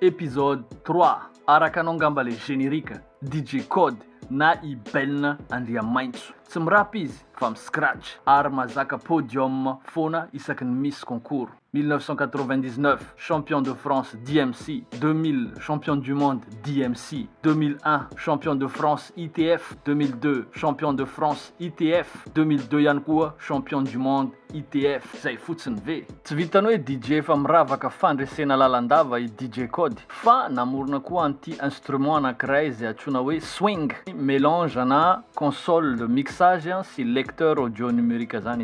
Episode trois, araka anao ngamba le générique, DJ Code na i Beln Andriamaintso. Tsy mi-rap izy fa mi-scratch ary mazaka podium foana isaky ny misy concours. 1999, champion de France DMC, 2000, champion du monde DMC, 2001, champion de France ITF, 2002, champion de France ITF, 2002 ihany koa champion du monde ITF, zay fotsiny ve? Tsy vitan'ny hoe DJ efa miravaka fandresena lalandava i DJ Code fa namorona koa an'ity instrument anankiray izay antsoina hoe swing, melange ana console de mixage sy lecteur audio numérique zany.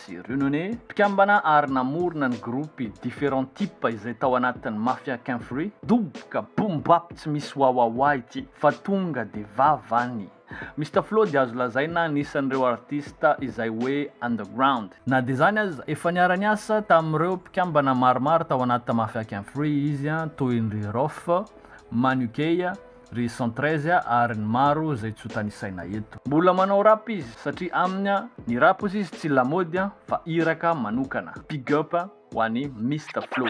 Sy Runone, mpikambana ary namorona ny gropy Different Type izay tao anatin'ny Mafia Ken Free. Doboka, boom bap tsy misy wawawa ity fa tonga dia vavany. Mister Flo dia azo lazaina anisan'ireo artista izay hoe underground. Na dia izany aza, efa niara-niasa tamin'ireo mpikambana maromaro tao anaty Mafia Ken Free izy toy ny ry Roff, Manukeya, ry centreze ary ny maro zay tsy ho tanisaina eto. Mbola manao rap izy satria aminy ny rap ozy izy tsy lamaody fa iraka manokana. Big up ho any Mister Flow.